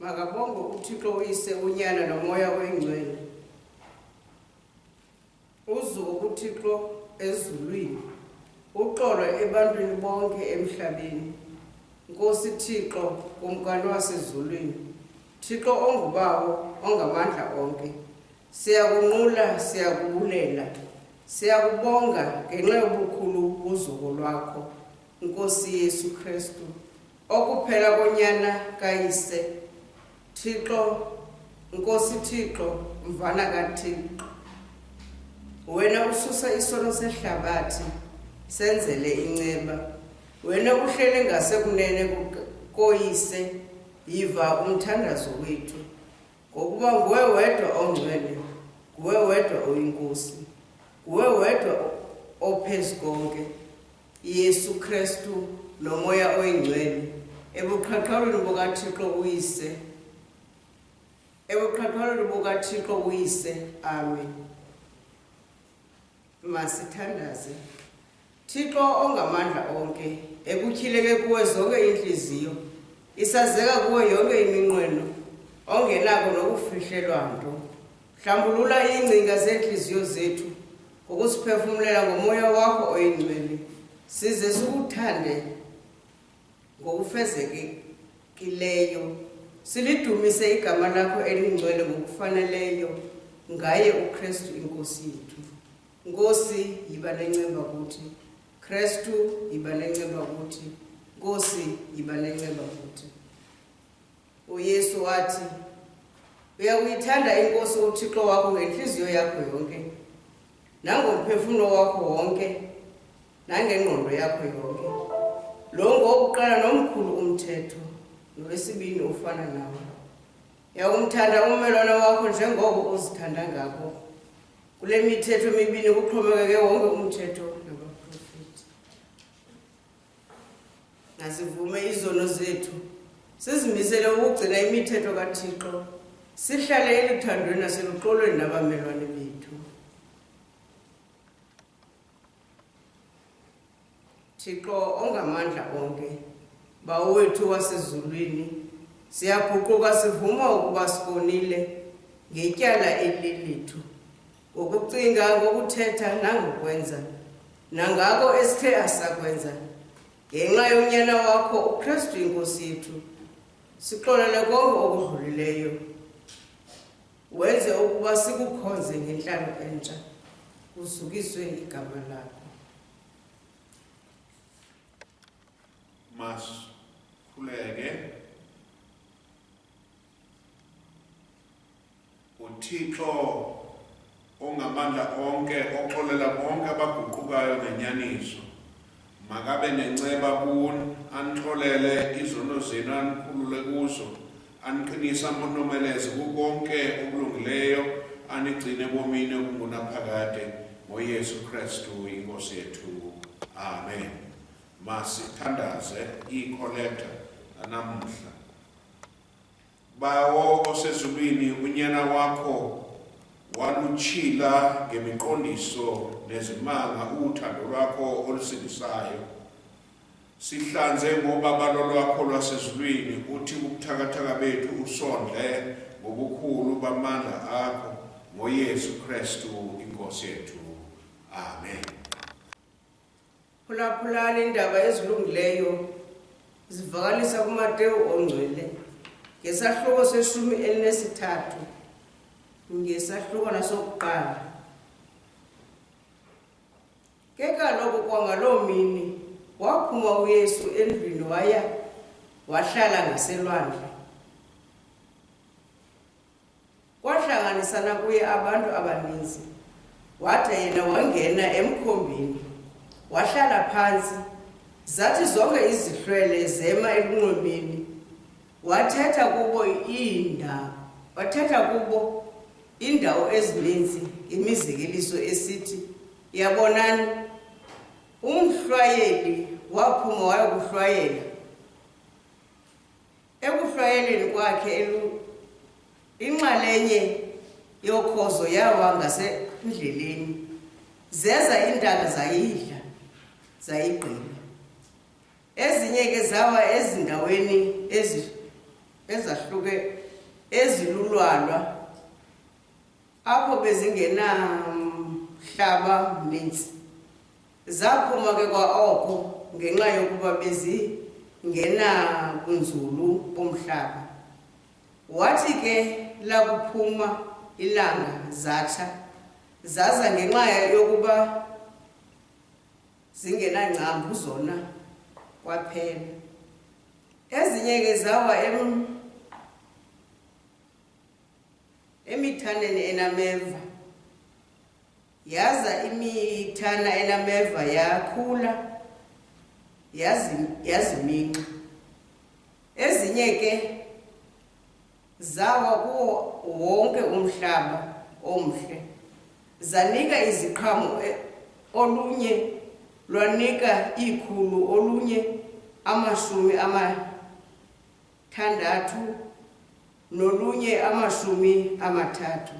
makabonge uthixo uyise unyana nomoya oyingcwele uzuko kuthixo ezulwini uxolo ebantwini bonke emhlabeni nkosi thixo kumkani wasezulwini thixo ongubawo ongamandla onke siyakunqula siyakubulela siyakubonga ngenxa yobukhulu uzuko lwakho nkosi yesu kristu okuphela konyana kayise thixo nkosi thixo mvana kathixo wena ususa isono sehlabathi senzele inceba wena uhlele ngasekunene koyise yiva umthandazo wethu ngokuba nguwe wedwa ongcwele nguwe wedwa oyinkosi nguwe wedwa ophezu konke Yesu Kristu nomoya oyingcwele ebuqhaqhalweni bukaThixo uyise ebuqhaqhalweni bukaThixo uyise amen masithandaze Thixo ongamandla onke ekutyhileke kuwe zonke iintliziyo isazeka kuwe yonke iminqweno ongenako nokufihlelwa nto Hlambulula iingcinga zeentliziyo zethu ngokusiphefumlela ngomoya wakho oyingcwele size sikuthande ngokufezekileyo silidumise igama lakho elingcwele ngokufaneleyo ngaye ukristu inkosi yethu nkosi yiba nenceba kuthi kristu yiba nenceba kuthi nkosi yiba nenceba kuthi uyesu wathi uyakuyithanda inkosi uthixo wakho ngentliziyo yakho yonke nangomphefumlo wakho wonke nangengqondo yakho yonke lo ngowokuqala nomkhulu umthetho nowesibini ufana nawo yakumthanda ummelwane wakho njengoko uzithanda ngako kule mithetho mibini kuxhomekeke wonke umthetho Nasivume izono zethu, sizimisele ukugcina imithetho kaThixo, sihlale eluthandweni naseluxolweni nabamelwane bethu. Thixo ongamandla onke, Bawo wethu wasezulwini, siyaguquka sivuma ukuba sikonile ngetyala elilethu. ngokucinga ngokuthetha nangokwenza nangako esithe asakwenza ngenxa yonyana wakho ukristu inkosi yethu sixolele konke okudlulileyo wenze ukuba sikukhonze ngentlalo entsha kuzukiswe igama lakho mas khuleke uthixo ongamandla onke oxolela bonke abaguqukayo ngenyaniso makabe nenceba kuni anixolele izono zenu anikhulule kuzo aniqinise amonomeleze kukonke okulungileyo anigcine bomini okungunaphakade ngoyesu kristu inkosi yethu amen masithandaze iikholekta nanamuhla Bawo osezulwini unyana wakho walutshila ngemiqondiso nezimanga uthando lwakho olusindisayo sihlanze ngobabalo lwakho lwasezulwini uthi ubuthakathaka bethu usondle ngobukhulu bamandla akho ngoyesu kristu inkosi yethu amen Phulaphulani iindaba ezilungileyo zivakalisa kuMatewu ongcwele ngesahluko seshumi elinesithathu ngesahlukwana sokuqala ke kaloku kwangaloo mini waphuma uyesu endlwini waya wahlala ngaselwandle Kwahlanganisana kuye abantu abaninzi, wada yena wangena emkhombeni, wahlala phantsi. Zathi zonke izihlwele zema elunxwemeni, wathetha kubo iindawo, wathetha kubo iindawo ezininzi imizekeliso esithi, Yabonani, umhlwayeli waphuma wayokuhlwayela Ekuhlwayeleni kwakhe elu inxalenye yokhozo yawa ngasendleleni zeza iintaka zayidla zayigqiba ezinye ke zawa ezindaweni ezahluke ezilulwalwa apho bezingenamhlaba mninzi Zaphuma ke kwaoko ngenxa yokuba bezingenabunzulu bomhlaba. Wathi ke lakuphuma ilanga zatsha, zaza ngenxa yokuba zingenangcambu zona kwaphela. Ezinye ke zawa em emithaneni enameva. yaza imithana enameva yakhula yaziminxa ezinye ke zawa kuwo wonke umhlaba omhle zanika iziqhamo e, olunye lwanika iikhulu olunye amashumi amathandathu nolunye amashumi amathathu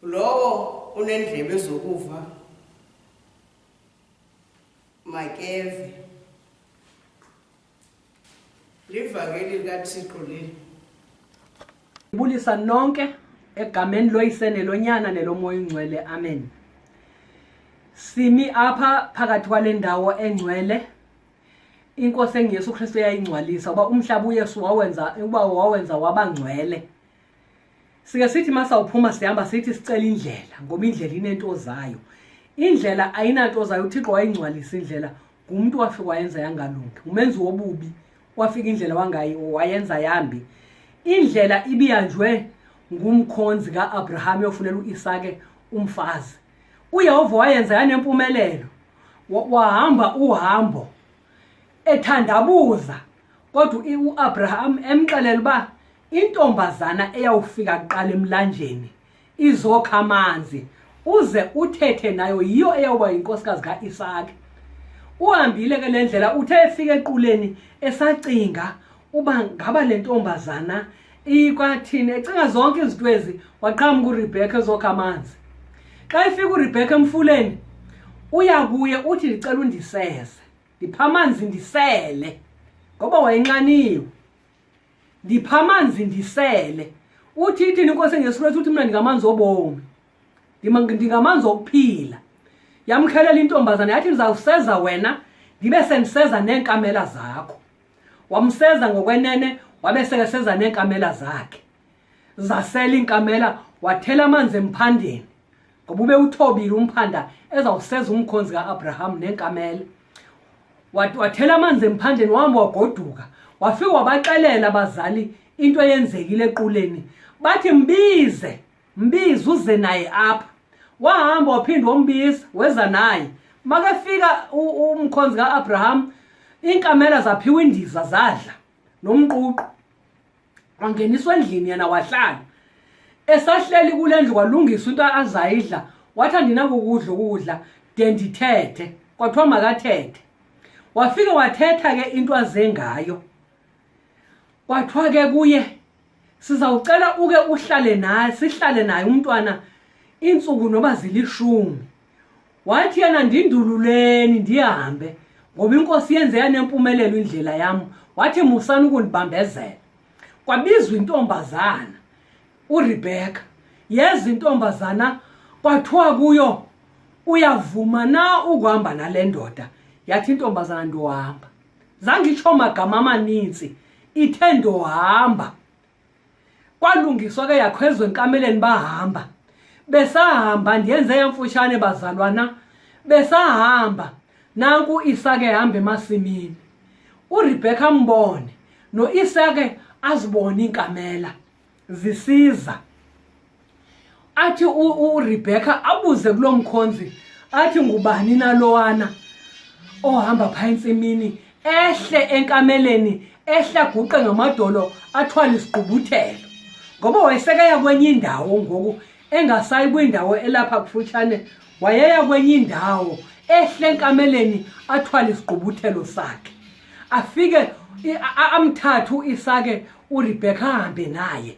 lowo unendlebe zokuva makeve livangeli likathixo leli ibulisa nonke egameni loyisene lonyana nelomoya ungcwele amen simi apha phakathi kwale ndawo engcwele inkosi enguyesu kristu eyayingcwalisa uba umhlaba uyesu wawenza uba wawenza wabangcwele sike sithi masawuphuma sihamba sithi sicela indlela ngoba indlela inento zayo indlela ayinanto zayo uthixo wayingcwalisa indlela ngumntu wafika wayenza yangalungi umenzi wobubi wafika indlela wayenza yambi indlela ibiyanjwe ngumkhonzi ka-abraham yofunela u-isake umfazi uyehova wayenza yanempumelelo wahamba uhambo ethandabuza kodwa u-abraham emxelela uba intombazana eyawufika kuqala emlanjeni izokha amanzi uze uthethe nayo yiyo eyawuba yinkosikazi ka-isaki uhambile ke le ndlela uthe efika equleni esacinga uba ngaba le ntombazana ikwathini ecinga zonke izinto ezi waqhamuka urebhekha ezokha amanzi xa efika urebhekha emfuleni uya kuye uthi ndicela undiseze ndipha amanzi ndisele ngoba wayenxaniwe ndipha amanzi ndisele uthi ithini inkosi engesu kristu uthi mna ndingamanzi obomi ndingamanzi okuphila yamkhelela intombazana yathi ndizawuseza wena ndibe sendiseza neenkamela zakho wamseza ngokwenene wabe sekeseza neenkamela zakhe zasela iinkamela wathela amanzi emphandeni ngoba ube uthobile umphanda ezawuseza umkhonzi ka-abraham nenkamele wathela amanzi emphandeni wahamba wagoduka wafika wabaxelela abazali into eyenzekile equleni bathi mbize mbize uze naye apha wahamba waphinde wombiza weza naye makefika umkhonzi ka-abraham iinkamela zaphiwa indiza zadla nomququ wangeniswa endlini yena wahlala esahleli kule ndlu kwalungiswa into azayidla wathi andinakukudla ukudla de ndithethe kwathiwa makathethe wafike wathetha ke into aze ngayo kwathiwa ke kuye sizawucela uke uhlale naye sihlale naye umntwana iintsuku noba zilishumi wathi yena ndindululeni ndihambe ngoba inkosi yenze yanempumelelo indlela yam wathi musani ukundibambezela kwabizwa intombazana uRebecca yeza intombazana kwathiwa kuyo uyavuma na ukuhamba nale ndoda yathi intombazana ndohamba zangitsho magama amaninzi ithe ndohamba kwalungiswa ke yakhwezwe enkameleni bahamba besahamba ndiyenze yamfutshane bazalwana besahamba nanku isake hamba emasimini uRebecca mbone noIsake azibone inkamela zisiza athi uRebecca abuze kulo mkhonzi athi ngubani nalowana ohamba phaa entsimini ehle enkameleni ehle aguqe ngamadolo athwale isigqubuthelo ngoba wayesekeya kwenye indawo ngoku engasayi kwindawo elapha kufutshane wayeya kwenye indawo ehle enkameleni athwale isigqubuthelo sakhe afike amthathu isake uRebecca ahambe naye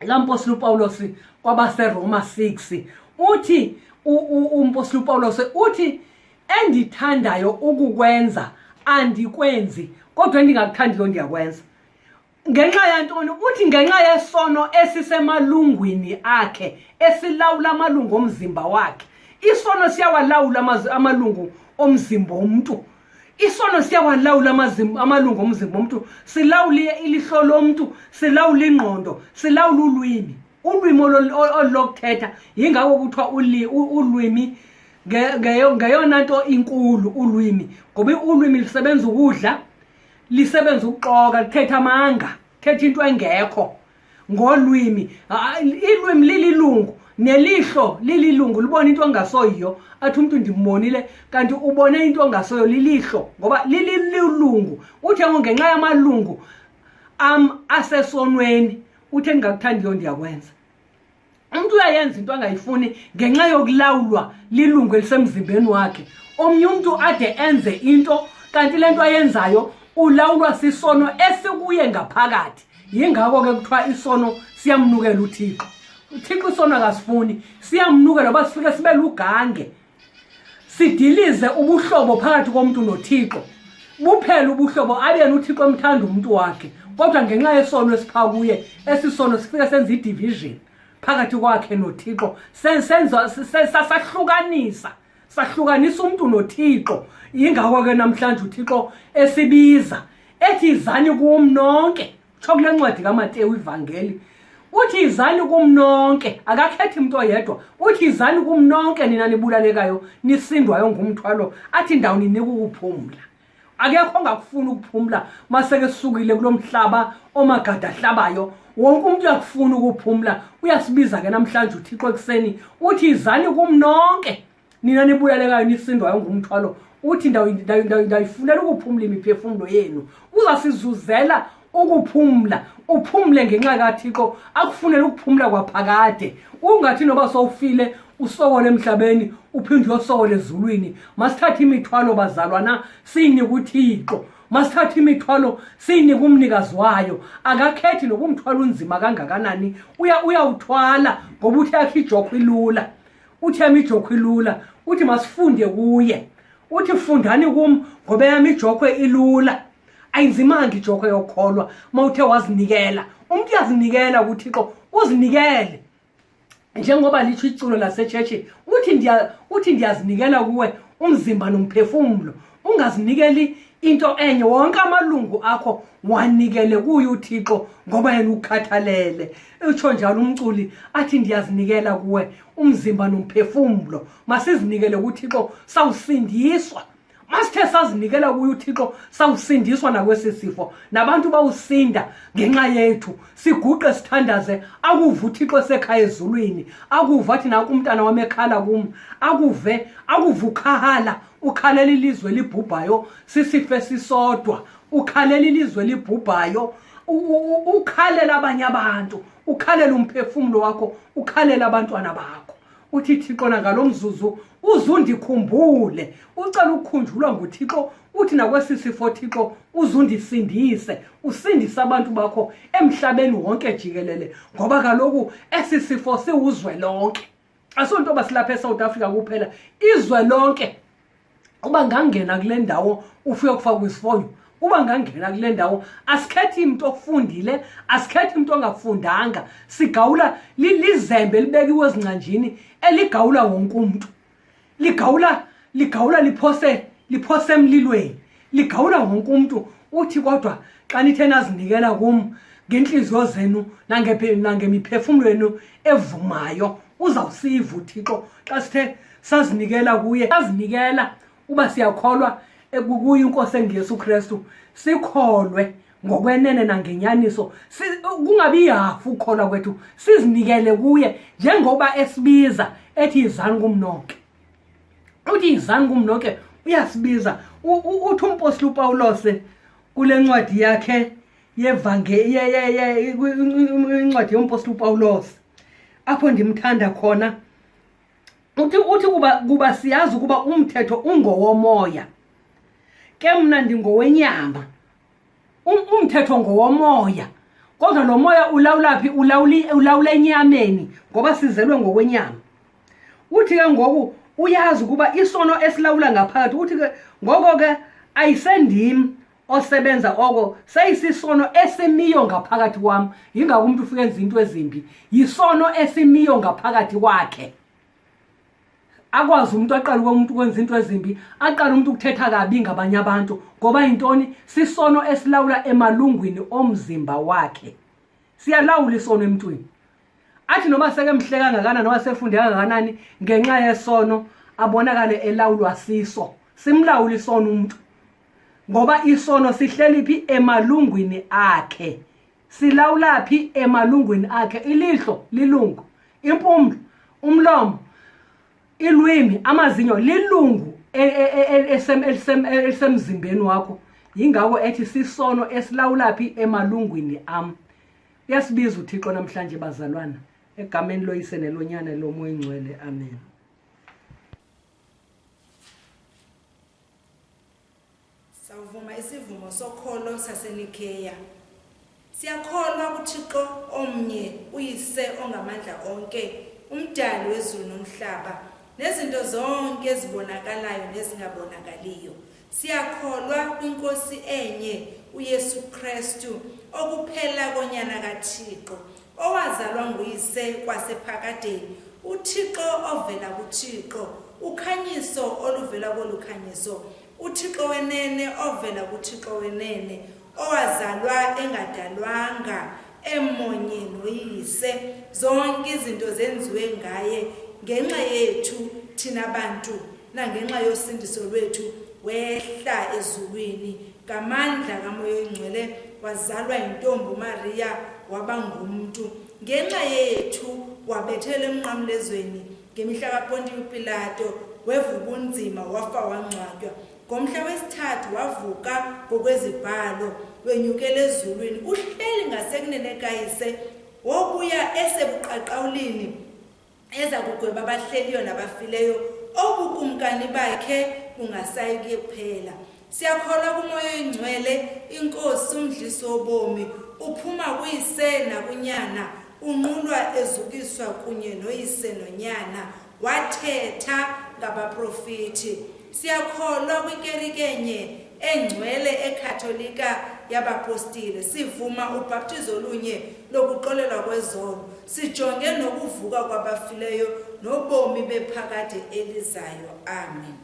lampostile upawulos kwabaseroma 6 uthi umpostile upawulos uthi endithandayo ukukwenza andikwenzi kodwa endingakuthandiyo ndiyakwenza ngenxa yantoni uthi ngenxa yesono esisemalungwini akhe esilawula amalungu omzimba wakhe isono siyawalawula amalungu omzimba omntu isono siyawalawula amalungu omzimba omntu silawule ilihlo lomntu silawule ingqondo silawule ulwimi ulwimi olulokuthetha yingako kuthiwa ulwimi ngeyona nto inkulu ulwimi ngoba ulwimi lisebenza ukudla lisebenza ukuxoka lithetha amanga thetha into engekho ngolwimi ilwimi lililungu nelihlo lililungu libona into engasoyiyo athi umntu ndimbonile kanti ubone into engasoyo lilihlo ngoba lililungu uthe ngo ngenxa yamalungu am asesonweni uthe ndingakuthandiyo ndiyakwenza umntu uyayenza into angayifuni ngenxa yokulawulwa lilungu elisemzimbeni wakhe omnye umntu ade enze into kanti le nto ayenzayo ulawulwa sisono esikuye ngaphakathi yingako ke kuthiwa isono siyamnukela uthixo uthixo isono akasifuni siyamnukela uba sifike sibe lugange sidilize ubuhlobo phakathi komntu nothixo buphele ubuhlobo abeni uthixo emthanda umntu wakhe kodwa ngenxa yesono esipha kuye esisono sifike senza idivision phakathi kwakhe nothixo sasahlukanisa sahlukanisa umntu nothixo yingako ke namhlanje uthixo esibiza ethi izani kum nonke tsho kule ncwadi kamatewu ivangeli uthi izani kum nonke akakhethi mntu oyedwa uthi izani kum nonke nina nibulalekayo nisindwayo ngumthwalo athi ndawo ninika ukuphumla akekho ongakufuni ukuphumla maseke sukile kulo mhlaba omagada ahlabayo wonke umntu uyakufuna ukuphumla uyasibiza ke namhlanje uthixo ekuseni uthi izani kum nonke nina nibuyalekayo nisindwayo ngumthwalo uthi ndayifunela ukuphumla imiphefumlo yenu uzasizuzela ukuphumla uphumle ngenxa kathixo akufunele ukuphumla kwaphakade ungathi noba sowufile usokole emhlabeni uphinde uyosokole ezulwini masithathe imithwalo bazalwana siyinike uthixo masithathe imithwalo siyinike umnikazi wayo akakhethi nokumthwala unzima kangakanani uyawuthwala ngoba uthi yakhe ijokho ilula uthi yam ijokhwe ilula uthi masifunde kuye uthi fundani kum ngoba yam ijokhwe ilula ayinzimanga ijokhwe yokholwa uma uthe wazinikela umntu uyazinikela kuthixo uzinikele njengoba litsho iculo lasetshetshi uthi ndiyazinikela kuwe umzimba nomphefumlo ungazinikeli into enye wonke amalungu akho wanikele kuye uthixo ngoba yena ukhathalele utsho njalo umculi athi ndiyazinikela kuwe umzimba nomphefumlo masizinikele kuthixo sawusindiswa masithe sazinikela kuye uthixo sawusindiswa nakwesi sifo nabantu bawusinda ngenxa yethu siguqe sithandaze akuve uthixo esekhaya ezulwini akuve athi nakumntana wam ekhala kum akuve akuve ukhahala ukhalela ilizwe elibhubhayo sisife sisodwa ukhalela ilizwe elibhubhayo ukhalela abanye abantu ukhalela umphefumulo wakho ukhalela abantwana bakho uthi thixo nangalo mzuzu uzundikhumbule ucela ukukhunjulwa nguthixo uthi nakwesi sifo thixo uzundisindise usindise abantu bakho emhlabeni wonke jikelele ngoba kaloku esi sifo siwuzwe lonke asonto basilapha eSouth Africa kuphela izwe lonke uba ngangena kule ndawo ufike kufaka kwisifonyo uba ngangena kule ndawo asikhethi imntu ofundile asikhethi imntu ongafundanga sigawula lizembe libekiwe ezingcanjini eligawula wonke umntu ligawula ligawula liphose liphose emlilweni ligawula wonke umntu uthi kodwa xa nithe nazinikela kum ngentliziyo zenu nangemiphefumlo yenu evumayo uzawusiva uthixo xa sithe sazinikela kuye sazinikela uba siyakholwa ekukuyo inkosi enguyesu kristu sikholwe ngokwenene nangenyaniso kungabi yihafu ukukholwa kwethu sizinikele kuye njengoba esibiza ethi yizani kumnoke uthi yizani kumnoke uyasibiza uthi umpostile upawulose kule ncwadi yakhe yevangencwadi yompostile upawulose apho ndimthanda khona uthi uthi kuba kuba siyazi ukuba umthetho ungowomoya ke mna ndingowenyama Um- umthetho ngowomoya kodwa lo moya ulawula phi ulawuli- ulawula enyameni ngoba sizelwe ngokwenyama uthi ke ngoku uyazi ukuba isono esilawula ngaphakathi uthi ke ngoko ke ayisendim osebenza oko seyisisono esimiyo ngaphakathi kwam yingako umntu ufike enza into ezimbi yisono esimiyo ngaphakathi kwakhe akwazi umntu aqale umntu ukwenza into ezimbi aqale umntu ukuthetha kabi ngabanye abantu ngoba yintoni sisono esilawula emalungwini omzimba wakhe siyalawula isono emntwini athi noba sekemhleka ngakanani noba sefunde kangakanani ngenxa yesono abonakale elawulwa siso simlawula isono umntu ngoba isono sihleli phi emalungwini akhe silawula phi emalungwini akhe ilihlo lilungu impumlo umlomo ilwimi amazinyo lilungu e, e, e, elisemzimbeni wakho yingako ethi sisono esilawula phi emalungwini am uyasibiza uthixo namhlanje bazalwana egameni loyise nelonyana lomoya ingcwele amen Sawuvuma isivumo sokholo saseNikeya. Siyakholwa kuThixo omnye, uYise ongamandla onke, umdali wezulu nomhlaba, nezinto zonke ezibonakalayo nezingabonakaliyo. Siyakholwa kwinkosi enye, uYesu Kristu, okuphela konyana kaThixo, owazalwa nguyise kwasephakadeni, uThixo ovela kuThixo, ukhanyiso oluvela kolukhanyiso, uthixo wenene ovela kuthixo wenene owazalwa engadalwanga emonye noyise zonke izinto zenziwe ngaye ngenxa yethu thina bantu nangenxa yosindiso lwethu wehla ezulwini ngamandla kamoya oyingcwele wazalwa yintombi umariya waba ngumntu ngenxa yethu wabethela emnqamlezweni ngemihla kapontiyo upilato wevuka ubunzima wafa wangcwatywa ngomhla wesithathu wavuka ngokwezibhalo wenyukela ezulwini uhleli ngasekunene kayise wokuya esebuqaqawulini eza kugweba abahleliyo nabafileyo obukumkani bakhe bungasayi kuphela siyakholwa kumoya oyingcwele inkosi umdlisi wobomi uphuma kuyise nakunyana unqulwa ezukiswa kunye noyise nonyana wathetha ngabaprofiti siyakholwa kwinkerikenye engcwele ekhatholika yabapostile sivuma ubhaptizo olunye lokuxolelwa kwezono sijonge nokuvuka kwabafileyo nobomi bephakade elizayo amen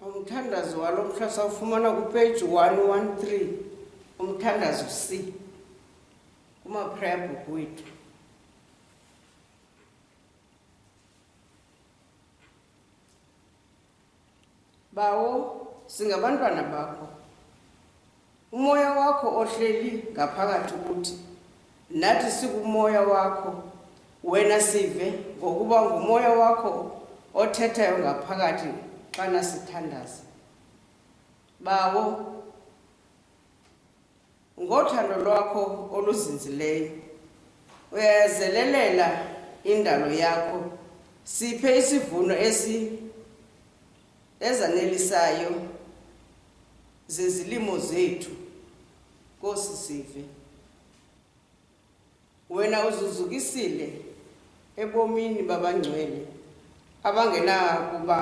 umthandazo walo mhla sawufumana kupeji 113 umthandazo c kumaphreya bhuku wethu Bawo, singabantwana bakho. Umoya wakho ohleli ngaphakathi kuthi nathi sikumoya wakho. Wena sive ngokuba ngumoya wakho othethayo ngaphakathi xana sithandaza. Bawo, Ngothando lwakho oluzinzileyo uyayazelelela indalo yakho. Siphe isivuno esi ezanelisayo zezilimo zethu. Nkosi sive. wena uzuzukisile ebomini babangcwele abangenakuba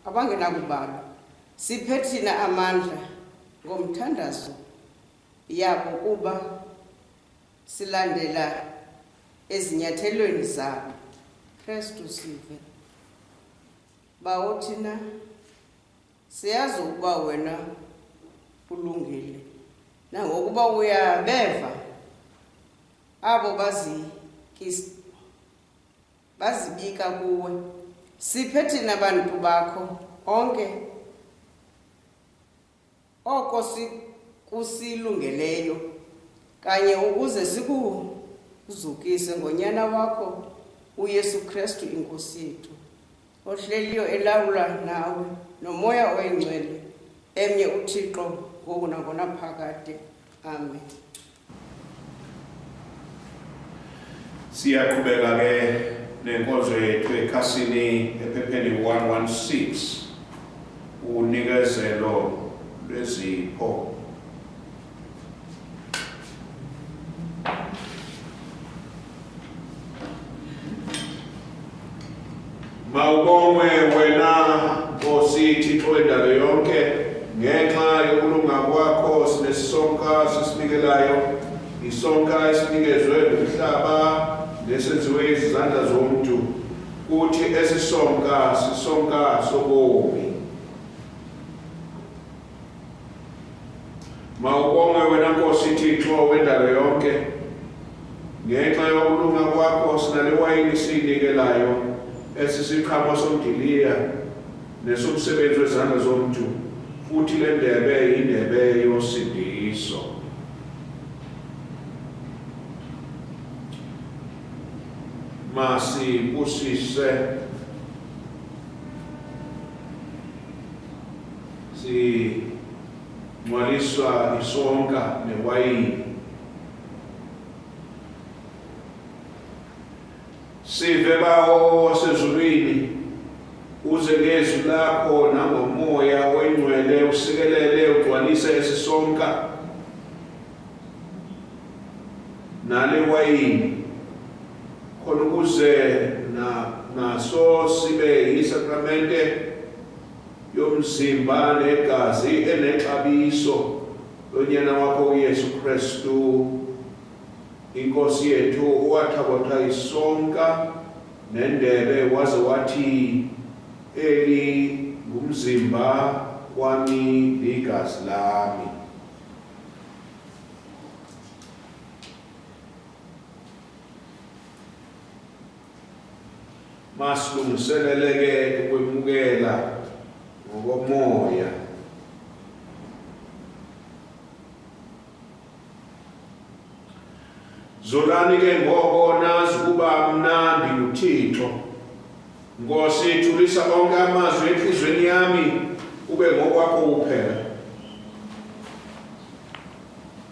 abangenakubalwa siphe thina amandla ngomthandazo yabo kuba silandela ezinyathelweni zabo kristu sive bawo thina siyazi ukuba wena ulungile nangokuba uyabeva abo bazibika kuwe siphe thina bantu bakho onke oko kusilungeleyo kanye ukuze sikuzukise ngonyana wakho uyesu kristu inkosi yethu ohleliyo elawula nawe nomoya oyingcwele emnye uthixo ngoku nangona phakade amen siyaqhubeka ke nenkonzo yethu ekhasini ephepheni 116 unikezelo lwezipho mawubongwe wena nkosi thixo indalo yonke ngenxa yokulunga kwakho sinesisonka sisinikelayo isonka esinikezwe ngumhlaba nesenziwe izizandla zomntu kuthi esisonka sisonka sobomi Mawubongwe wena Nkosi Thixo wendalo yonke. Ngenxa yokulunga kwakho sinale wayini siyinikelayo esisiqhamo somdiliya nesomsebenzi wezandla zomntu futhi le ndebe yindebe yosindiso. Masibusise singcwaliswa isonka newayini sive bawo wasezulwini uze ngezwi lakho nangomoya oyingcwele usikelele ugcwalise esisonka nale wayini khona ukuze naso sibe yisakramente yomzimba negazi enexabiso lonyana wakho uyesu kristu inkosi yethu uwathakotha isonka nendebe waze wathi eli ngumzimba wami ligazi lami masilungiseleleke ukwemukela ngokomoya zolani ke ngoko nazi ukuba mnandi nguthixo nkosi thulisa onke amazwi entliziyweni yami ube ngokwakho kuphela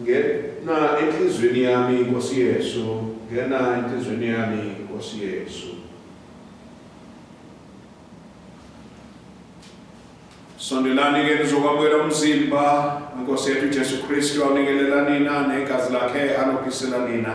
ngena enhlizweni yami inkosi yesu ngena enhlizweni yami inkosi yesu sondelani ke nizokwamukela umzimba nkosi yethu jesu kristu awunikelela nina negazi lakhe anophisela nina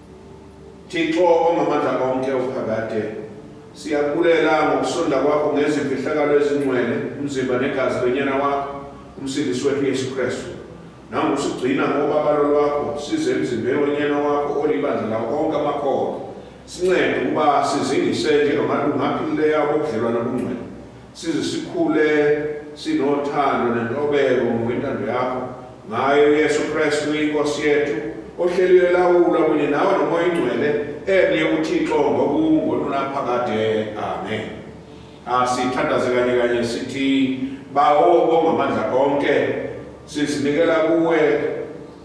Thixo ongamandla konke uphakade siyakulela ngokusonda kwakho ngezimfihlakalo ezingcwele umzimba negazi lwenyana wakho umsindisi wethu yesu kristu nangosigcina ngobabalo lwakho size emzimbeni wenyana wakho olibandla lawo onke amakhono sincede ukuba sizingise njengamalungu aphilileyo abobudlelwane obungcwele size sikhule sinothando nentobeko ngokwentando yakho ngayo uyesu kristu inkosi yethu ohleliwe elawula kunye nawe nomoya ingcwele emnye uthixo ngokungo lunaphakade amen asithandaze kanye kanye sithi bawo ongamandla konke sizinikela kuwe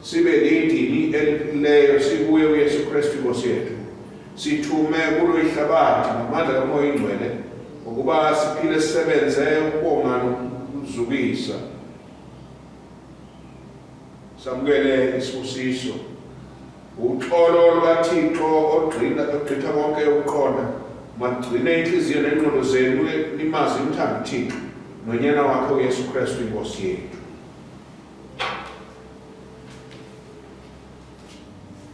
sibe lidini eliphilileyo sikuye uyesu kristu inkosi yethu Sithume kulo ihlabathi ngamandla kaMoya Ingcwele ukuba siphile sisebenze ukubonga nokuzukisa. Samukele isibusiso. Uxolo lukaThixo ogqina ogqitha konke ukuqonda magcine inhliziyo nengqondo zenu nimazi umthanda uThixo nonyana wakhe uYesu Kristu inkosi yethu.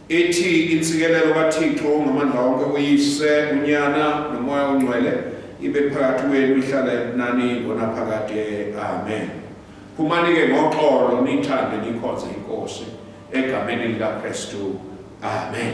ithi intsikelelo kathixo ngamandla wonke uyise unyana nomoya ongcwele ibe phakathi wenu ihlala ebunani ngonaphakade amen phumani ke ngoxolo nithande nikhonze inkosi egameni likakristu amen